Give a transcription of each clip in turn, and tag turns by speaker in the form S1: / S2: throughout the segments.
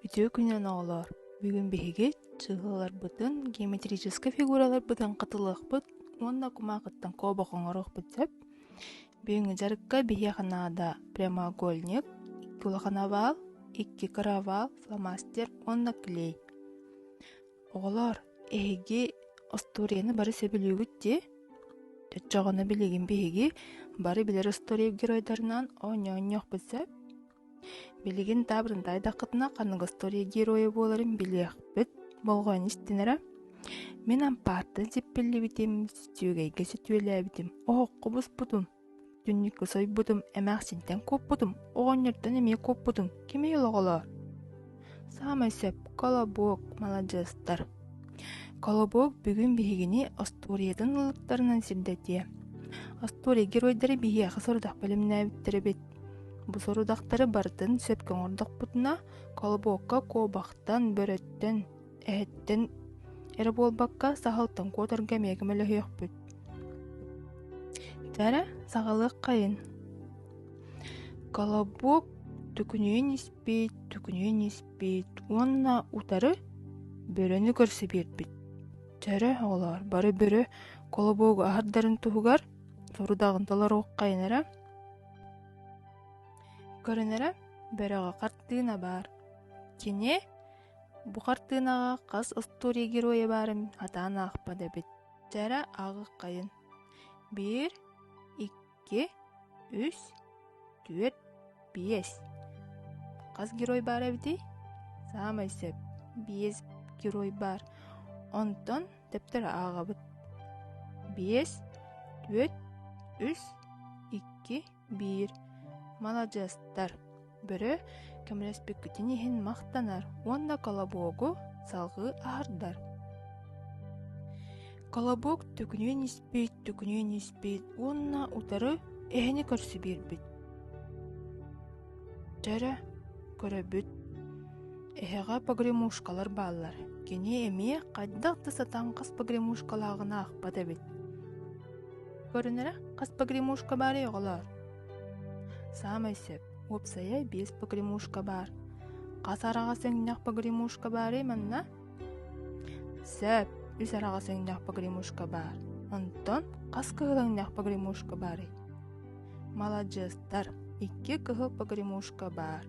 S1: Үтүө күнүнэн оҕолоор! Бүгүн биһиги сыһыаларбытын, геометрическай фигураларбытын хатылыахпыт уонна кумаакыттан куобах оҥоруохпут сөп. Бүгүҥҥү дьарыкка биһиэхэ наада прямоугольник, икки улахан овал, икки каравал, фломастер уонна клей. Оҕолоор, эһиги остуоруйаны бары сөбүлүүгүт дии? Чоччоҕуна билигин биһиги бары билэр остуоруйа геройдарынан оонньоонньуохпут сөп. Билигин таабырынта айдаххытына ханнык остуоруйа геройа буоларын билиэхпит болҕойон истинэрэ. Мин ампаартан сиппиллибитим, сүтүөгэйгэ сүтүөлээбитим, оһоххо буспутум, Түннүккэ сойбутум, эмээхсинтэн куоппутум, оҕонньортон эмиэ куоппутум. Кимий олоҕолоор? Саамай сөп Колобок маладьыастар. Колобок бүгүн биһигини остуоруйатын ылыктарынан сирдэтиэ. Остуоруйа геройдары биһиэхэ сорудах бэлэмнээбиттэр эбит. Бу сорудахтары барытын сөпкө оҥордохпутуна, Колобокка куобахтан, бөрөттөн, эһэттэн эрэ буолбакка саһылтан куотарга миэхэ мөлөһүөхпүт Тәрэ саҕалыах хайын Колобок түкүнүйүн испит түкүнүйүн испит уонна утары бөрөнү көрсө биэрбит Төрө оҕолоор бары бөрө колобогу аһардарын туһугар сорудаҕын толоруоххайын эрэ көрүнэрэ бөрөҕө хартыына баар кини Бу хартыынаҕа хас остуоруйа геройа баарын хатаан аахпат эбит. Чара ааҕыххайын. Биир, икки, үс, түөрт, биэс. Хас герой баар эбитий? Саамай сөп. Биэс герой баар. Онтон дэптэрэ ааҕабыт. Биэс, түөрт, үс, икки, Биир маладьыастар, бөрө көмөлөспүккүтүн иһин махтанар уонна колобогу салгыы аһардар. Колобок түкүнүөн испит, түкүнүөн испит уонна утары эһэни көрсө биэрбит. Дьэ эрэ, көрөбүт, эһэҕэ погремушкалар бааллар. Кини эмиэ хайдах да сатаан хас погремушкалааҕын аахпат эбит. Көрүнэрэ, хас погремушка баарый оҕолоор? Саамай сөп, уопсайа биэс погремушка баар. Хас араҕас эҥнэх погремушка баарый манна? Сөп, үс араҕас эҥнэх погремушка баар. Онтон хас кыһыл эҥнэх погремушка баарый? Маладьыастар, икки кыһыл погремушка баар.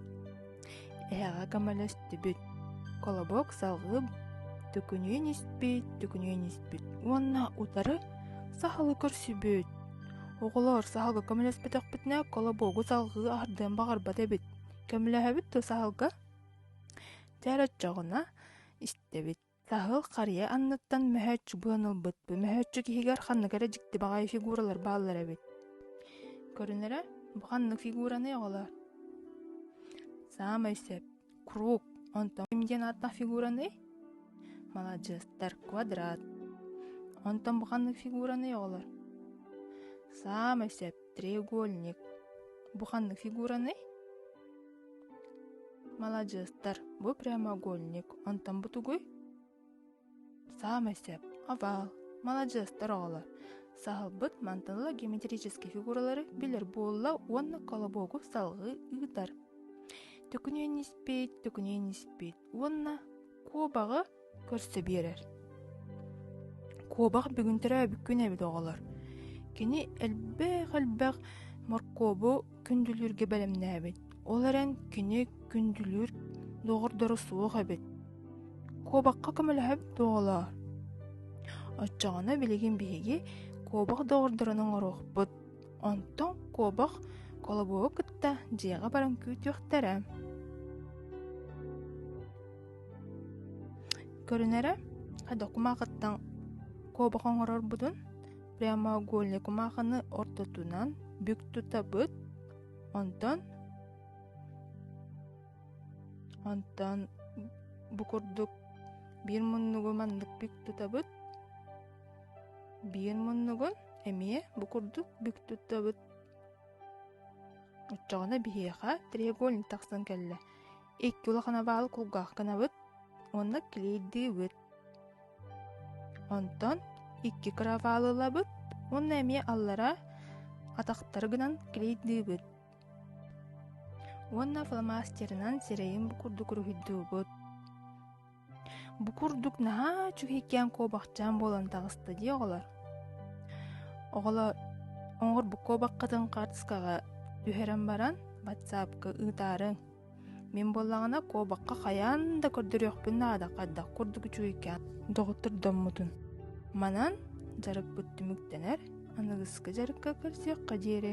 S1: Эһэҕэ көмөлөстүбүт. Колобок салгып, төкүнүйэн испит, төкүнүйэн испит уонна утары сахалы көрсүбүт. Оҕолор саһалга көмөлөспөтөхпүтүнэ колобогу салгыы ардыан баҕарбат эбит. Көмөлөһөбүт ту саһалга? Тээр өччөҕүнэ истэбит. Саһыл харыйа анныттан мөһөөччү быан ылбыт, бу мөһөөччүк иһигэр ханнык эрэ дьикти баҕайы фигуралар бааллар эбит. Көрүнэрэ, бу ханнык фигураны оҕолоор? Саамай сөп. Круг. Онтон ким диэн ааттаах фигураны? Маладьыастар, квадрат. Онтон бу ханнык фигураны оҕолор? Саамай сөп. Треугольник. Бу ханнык фигураны? Маладьыастар, бу прямоугольник, онтон бу тугуй? Саамай сөп, овал. Маладьыастар оҕолор, саһылбыт мантылла геометрический фигуралары билэр буолла уонна колобогу салгыы ыытар. Төкүнүөн испит, төкүнүөн испит уонна куобаҕы көрсө биэрэр. Куобах бүгүн төрөөбүккүн эбит оҕолор. Кини элбэх-элбэх моркуобу күндүлүүргэ бэлэмнээбит. Ол эрэн кини күндүлүүр доҕордоро суох эбит. Куобахха көмөлөһөбүт оҕолоор. Оччоҕуна билигин биһиги куобах доҕордорун оҥоруохпут. Онтон куобах колобуогу кытта дьиэҕэ баран күүтүөхтэрэ. Көрүнэрэ, докумаакыттан куобах оҥорорбутун прямоугольникумаахыны ортотунан бүк тутабыт, онтон онтон бу курдук биир муннугу маннык бүк тутабыт, биир муннугун эмиэ бу курдук бүк туттабыт. Оччоҕуна биһиэхэ треугольник тахсан кэллэ. Икки улахан абаалы кулгаах гынабыт, онно килийдиибит. Онтон икки кыраваалы ылабыт уонна эмиэ аллара атахтары гынан килийдиибит. Уонна фломастерынан сирэйин курдук уруһуйдуубут. Бу курдук наһаа үчүгэйкээн куобахчаан буолан таҕыста дии оҕолор. Оҕолор оҥорбут куобаххытын хаартыскаҕа түһэрэн баран ватсапка ыытаарыҥ. Мин буоллаҕына куобахха хайаан да көрдөрүөхпүн наада хайдах курдук үчүгэйкээн доҕоттордоммутун. Манан дьарыкпыт түмүктэнэр, аныгыскы дьарыкка көрсүөххэ диэри